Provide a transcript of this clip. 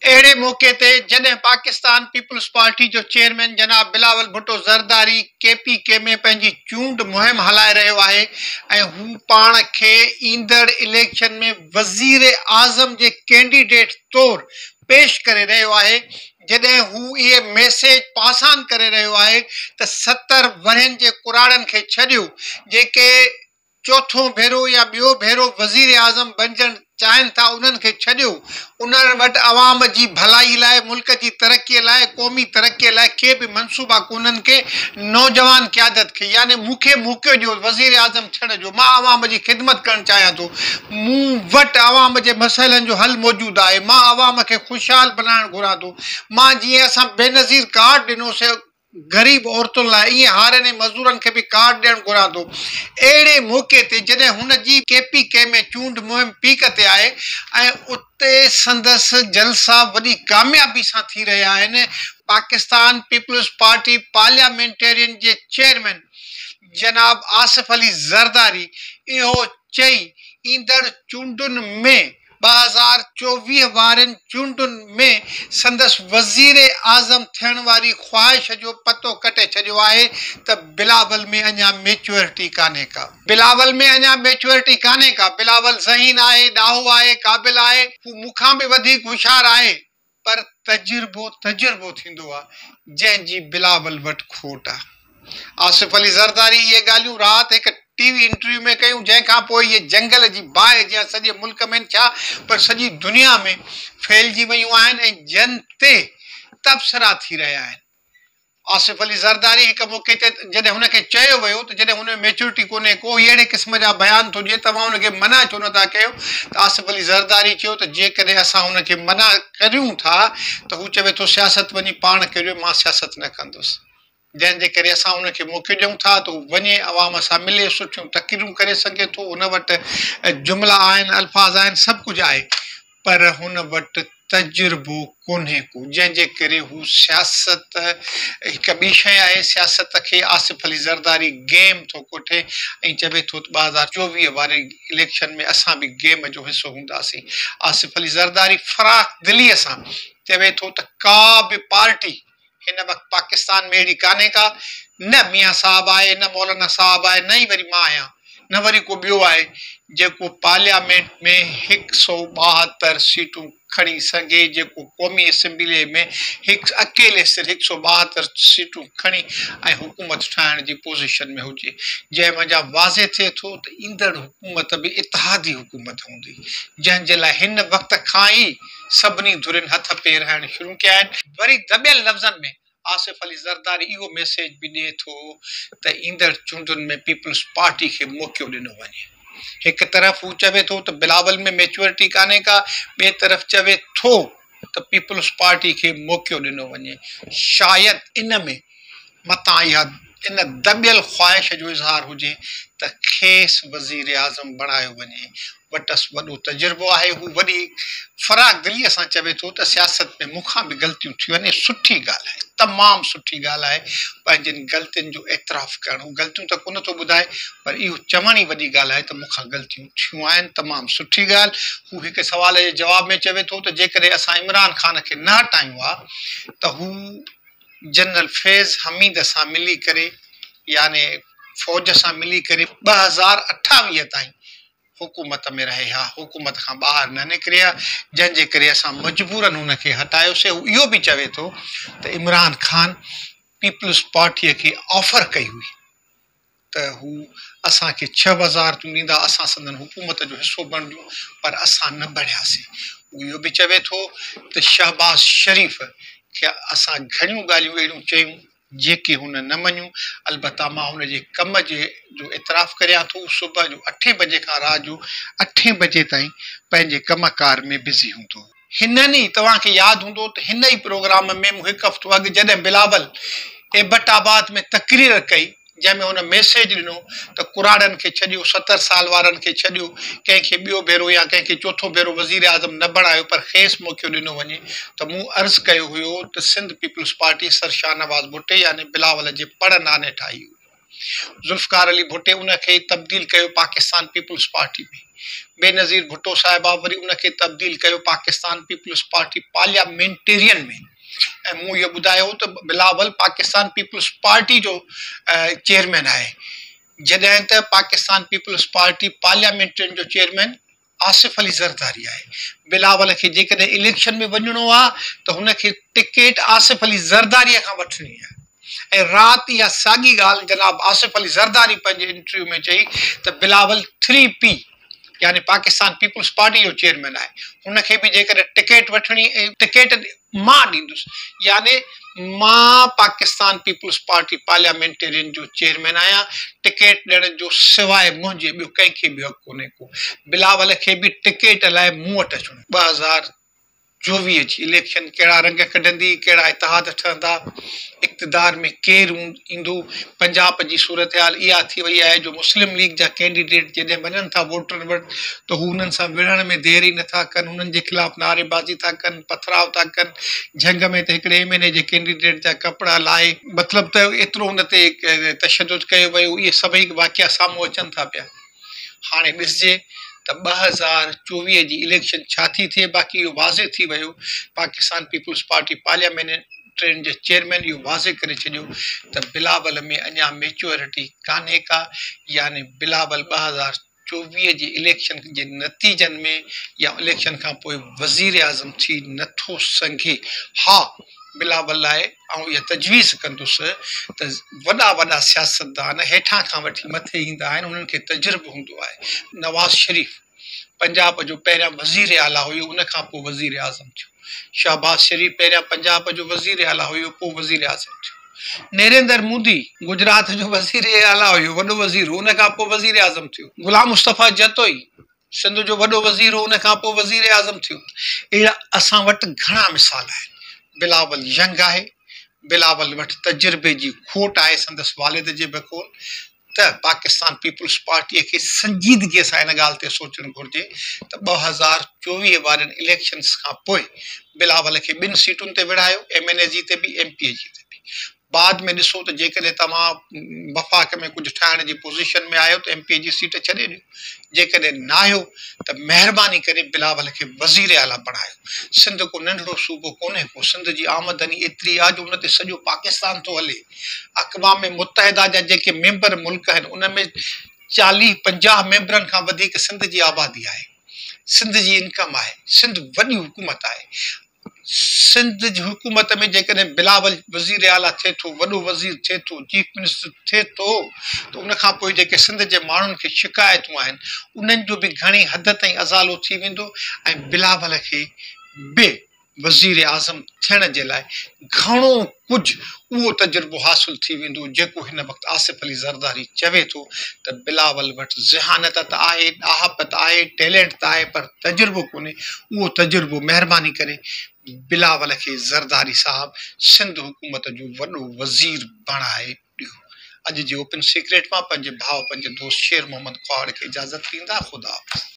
اهڙي موقعي تي جڏهن پاڪستان پيپلز پارٽي جو چيئرمين جناب Bilawal Bhutto Zardari K P K ۾ پنهنجي چونڊ مهم هلائي رهيو آهي ۽ هو پاڻ کي ايندڙ اليڪشن ۾ وزيراعظم جي ڪينڊيڊيٽ طور پيش ڪري رهيو آهي جڏهن هو اهي ميسيج پاسان ڪري رهيو آهي ته ستر ورهين جي ڪراڙن کي ڇڏيو جيڪي چوٿون ڀيرو يا ٻيو ڀيرو وزيراعظم بنجڻ چاهين ٿا انهن کي ڇڏيو انهن وٽ عوام جي ڀلائي لاء ملڪ جي ترقي لاء قومي ترقي لاء ڪي به منصوبا ڪونهن ڪي نوجوان قيادت کي يعني مون کي موقعو ڏيو وزيراعظم ٿيڻ جو مان عوام جي خدمت ڪرڻ چاهيان ٿو مون وٽ عوام جي مسئلن جو حل موجود آهي مان عوام کي خوشحال بنائڻ گهران ٿو مان جيئن اسان بينظير ڪارڊ ڏنو سي غريب عورتن لاء ائين هارين ۽ مزدورن کي به ڪارڊ ڏيڻ گهران ٿو. اهڙي موقعي تي جڏهن هن جي ڪي پي ڪي ۾ چونڊ مهم پيڪ تي آهي ۽ اتي سندس جلسا وڏي ڪاميابي سان ٿي رهيا آهن، پاڪستان پيپلز پارٽي پارليامينٽيرين جي چيئرمين جناب آصف علي زرداري اهو چئي ايندڙ چونڊن ۾ ٻه هزار چوويهه وارين چونڊن ۾ سندس وزيراعظم ٿيڻ واري خواهش جو پتو ڪٽي ڇڏيو آهي ته بلاول ۾ اڃا ميچوئرٽي ڪانهي ڪا. بلاول ۾ اڃا ميچوئرٽي ڪانهي ڪا. بلاول ذهين آهي، ڏاهو آهي، قابل آهي. هو مون کان به وڌيڪ هوشيار آهي. پر تجربو تجربو ٿيندو آ، جنهن جي بلاول وٽ کوٽ آ. آصف علي زرداري اهي ڳالهيون رات هڪ ٽي وي انٽرويو ۾ ڪيون، جنهن کان پوء اهي جنگل جي باهه جيان سڄي ملڪ ۾ نه ڇا پر سڄي دنيا ۾ ڦهلجي ويون آهن ۽ جن تي تبصرا ٿي رهيا آهن. آصف علي زرداري هڪ موقعي تي جڏهن هن کي چيو ويو ته جڏهن هن ۾ ميچورٽي ڪونهي ڪو ئي اهڙي قسم جا بيان ٿو ڏئي توهان هن کي منع ڇو نٿا ڪيو ته آصف علي زرداري چيو ته جيڪڏهن اسان هن کي منع ڪريون ٿا ته هو چوي ٿو سياست وڃي پاڻ ڪريو مان سياست نه ڪندس جنهن جي ڪري اسان هن کي موقعو ڏيون ٿا ته هو وڃي عوام سان ملي سٺيون تقريرون ڪري سگهي ٿو هن وٽ جملا آهن الفاظ آهن سڀ ڪجهه آهي پر هن وٽ تجربو ڪونهي ڪو، جنهن جي ڪري هو سياست هڪ ٻي شيء آهي، سياست کي آصف علي زرداري گيم ٿو ڪوٺي ۽ چوي ٿو ته ٻه هزار چوويهه واري اليڪشن ۾ اسان به گيم جو حصو هونداسين. آصف علي زرداري فراخ دليء سان چوي ٿو ته ڪا به پارٽي. هن وقت پاڪستان ۾ اهڙي ڪانهي ڪا، نه ميان صاحب آهي، نه مولانا صاحب آهي، نه ئي وري مان آهيان، نه وري ڪو ٻيو آهي، جيڪو پارليامينٽ ۾ هڪ سؤ ٻاهتر سيٽون کڻي سگهي، جيڪو قومي اسيمبليء ۾ هڪ اڪيلي سر هڪ سؤ ٻاهتر سيٽون کڻي ۽ حڪومت ٺاهڻ جي پوزيشن ۾ هجي، جنهن منجهان واضح ٿئي ٿو ته ايندڙ حڪومت به اتحادي حڪومت هوندي، جنهن جي لاء هن وقت کان ئي. سڀني ڌرين هٿ پير هڻڻ شروع ڪيا آهن. وري دٻيل لفظن ۾ آصف علي زرداري اهو ميسيج به ڏئي ٿو ته ايندڙ چونڊن ۾ پيپلز پارٽي کي موقعو ڏنو وڃي. هڪ طرف هو چوي ٿو ته بلاول ۾ ميچوئرٽي ڪانهي ڪا، ٻئي طرف چوي ٿو ته پيپلز پارٽي کي موقعو ڏنو وڃي. شايد ان ۾ متان اها ان دٻيل خواهش جو اظهار هجي ته کيس وزيراعظم بڻايو وڃي. وٽس وڏو تجربو آهي. هو وڏي فراخ دليء سان چوي ٿو ته سياست ۾ مون کان به غلطيون ٿيون آهن. اهي سٺي ڳالهه آهي. تمام سٺي ڳالهه آهي. پنهنجين غلطين جو اعتراف ڪرڻ. هو غلطيون ته ڪونه ٿو ٻڌائي پر اهو چوڻ ئي وڏي ڳالهه آهي ته مون کان غلطيون ٿيون آهن. تمام سٺي ڳالهه. هو هڪ سوال جي جواب ۾ چوي ٿو ته جيڪڏهن اسان عمران خان کي نه هٽايون ها ته هو. جنرل فيض حميد سان ملي ڪري يعني فوج سان ملي ڪري ٻه هزار اٺاويهه تائين حڪومت ۾ رهي ها، حڪومت کان ٻاهر نه نڪري ها، جنهن جي ڪري اسان مجبورن هن کي هٽايوسي، هو اهو به چوي ٿو ته عمران خان پيپلز پارٽيء کي آفر ڪئي هئي. ته هو اسان کي ڇهه وزارتون ڏيندا، اسان سندن حڪومت جو حصو بڻجون، پر اسان نه بڻياسين. هو اهو به چوي ٿو ته شهباز شريف کي اسان گهڻيون ڳالهيون اهڙيون چيون، جيڪي هن نه مڃيون، البته مان هن جي ڪم جي جو اعتراف ڪريان ٿو، هو صبح جو اٺين بجي کان رات جو اٺين بجي تائين پنهنجي ڪم ڪار ۾ بزي هوندو هو. هنن ئي توهان کي ياد هوندو ته هن ئي پروگرام ۾ مون هڪ هفتو اڳ جڏهن بلاول ايبٽ آباد ۾ تقرير ڪئي جنهن ۾ هن ميسيج ڏنو ته ڪراڙن کي ڇڏيو ستر سال وارن کي ڇڏيو ڪنهن کي ٻيو ڀيرو يا ڪنهن کي چوٿون ڀيرو وزيراعظم نه بڻايو پر کيس موقعو ڏنو وڃي ته مون عرض ڪيو هيو ته Sindh Peoples Party Sir Shahnawaz ڀٽي يعني بلاول جي پڙ نانهن ٺاهي هئي. ذوالفقار علي ڀٽي ان کي تبديل ڪيو پاڪستان پيپلز پارٽي ۾ بينظير ڀٽو صاحبه وري ان کي تبديل ڪيو پاڪستان پيپلز پارٽي پارليامينٽيرين ۾ ۽ مون اهو ٻڌايو هو ته بلاول پاڪستان پيپلز پارٽي جو چيئرمين آهي جڏهن ته پاڪستان پيپلز پارٽي پارليامينٽرين جو چيئرمين آصف علي زرداري آهي، بلاول کي جيڪڏهن اليڪشن ۾ وڃڻو آهي ته هن کي ٽڪيٽ آصف علي زرداري کان وٺڻي آهي ۽ رات اها ساڳي ڳالهه جناب آصف علي زرداري پنهنجي انٽرويو ۾ چئي ته بلاول ٿري پي يعني پاڪستان پيپلز پارٽي جو چيئرمين آهي، هن کي به جيڪڏهن ٽڪيٽ وٺڻي ۽ ٽڪيٽ مان ڏيندس يعني مان پاڪستان پيپلز پارٽي پارليامينٽيرين جو چيئرمين آهيان، ٽڪيٽ ڏيڻ جو سواء منهنجي ٻيو ڪنهن کي به حق ڪونهي ڪو، بلاول کي به ٽڪيٽ لاء مون وٽ اچڻو آهي. ٻه هزار چوويهه جي اليڪشن ڪهڙا رنگ ڪڍندي، ڪهڙا اتحاد ٺهندا، اقتدار ۾ ڪير هوندو، ايندو، پنجاب جي صورتحال اها ٿي وئي آهي جو مسلم ليگ جا ڪينڊيڊيٽ جڏهن وڃن ٿا ووٽرن وٽ ته هو انهن سان وڙهڻ ۾ دير ئي نٿا ڪن، انهن جي خلاف نعري بازي ٿا ڪن، پٿراء ٿا ڪن، جهنگ ۾ ته هڪڙي ايم اين اي جي ڪينڊيڊيٽ جا ڪپڙا لاهي. مطلب ته ايترو ان تي تشدد ڪيو ويو، اهي سڀئي واقعا سامهون اچن ٿا پيا. هاڻي ڏسجي ته ٻه هزار چوويهه جي اليڪشن ڇا ٿي ٿئي باقي اهو واضح ٿي ويو پاڪستان پيپلز پارٽي پارليامينٽرين جي چيئرمين اهو واضح ڪري ڇڏيو ته بلاول ۾ اڃا ميچوئرٽي ڪانهي ڪا يعني بلاول ٻه هزار چوويهه جي اليڪشن جي نتيجن ۾ يا اليڪشن کانپوء وزيراعظم ٿي نٿو سگهي ها بلاول لاء آئون اها تجويز ڪندس ته وڏا وڏا سياستدان هيٺان کان وٺي مٿي ايندا آهن انهن کي تجربو هوندو آهي نواز شريف پنجاب جو پهريان وزير اعليٰ هيو ان کان پوء وزير اعظم ٿيو شهباز شريف پهريان پنجاب جو وزير اعليٰ هيو پوء وزير اعظم ٿيو نريندر مودي گجرات جو وزير اعليٰ هيو وڏو وزير هو ان کان پوء وزير اعظم ٿيو غلام مصطفيٰ جتوئي سنڌ جو وڏو وزير هو، ان کانپوء وزيراعظم ٿيو. اهڙا اسان وٽ گهڻا مثال آهن. بلاول ينگ آهي، بلاول وٽ تجربي جي کوٽ آهي، سندس والد جي بقول ته پاڪستان پيپلز پارٽيء کي سنجيدگيء سان ان ڳالهه تي سوچڻ گهرجي ته ٻه هزار چوويهه وارين اليڪشنز کانپوء بلاول کي ٻن سيٽن تي وڙهايو، ايم اين اي جي تي به، ايم پي اي جي تي به. بعد ۾ ڏسو ته جيڪڏهن توهان وفاق ۾ ڪجهه ٺاهڻ جي پوزيشن ۾ آهيو ته ايم پي اي جي سيٽ ڇڏي ڏيو، جيڪڏهن ناهيو ته مهرباني ڪري بلاول کي وزير اعليٰ بڻايو. سنڌ ڪو ننڍڙو صوبو ڪونهي ڪو، سنڌ جي آمدني ايتري آهي جو ان تي سڄو پاڪستان ٿو هلي. اقوام متحده جا جيڪي ميمبر ملڪ آهن ان ۾ چاليهه پنجاهه ميمبرن کان وڌيڪ سنڌ جي آبادي آهي. سنڌ جي انڪم آهي، سنڌ وڏي حڪومت آهي، سنڌ جي حڪومت ۾ جيڪڏهن بلاول وزير اعليٰ ٿئي ٿو، وڏو وزير ٿئي ٿو، چيف منسٽر ٿئي ٿو ته ان کان پوء جيڪي سنڌ جي ماڻهن کي شڪايتون آهن، انهن جو به گهڻي حد تائين ازالو ٿي ويندو ۽ بلاول کي به وزيراعظم ٿيڻ جي لاء گهڻو ڪجهه اهو تجربو حاصل ٿي ويندو جيڪو هن وقت آصف علي زرداري چوي ٿو ته بلاول وٽ ذهانت ته آهي، ڏاهپ ته آهي، ٽيلنٽ ته آهي پر تجربو ڪونهي اهو تجربو مهرباني ڪري بلاول کي زرداري صاحب سنڌ حڪومت جو وڏو وزير بڻائي ڏيو اڄ جي اوپن سيڪريٽ مان پنهنجي ڀاء پنهنجي دوست شير محمد ڪهاڙ کي اجازت ڏيندا خدا حافظ.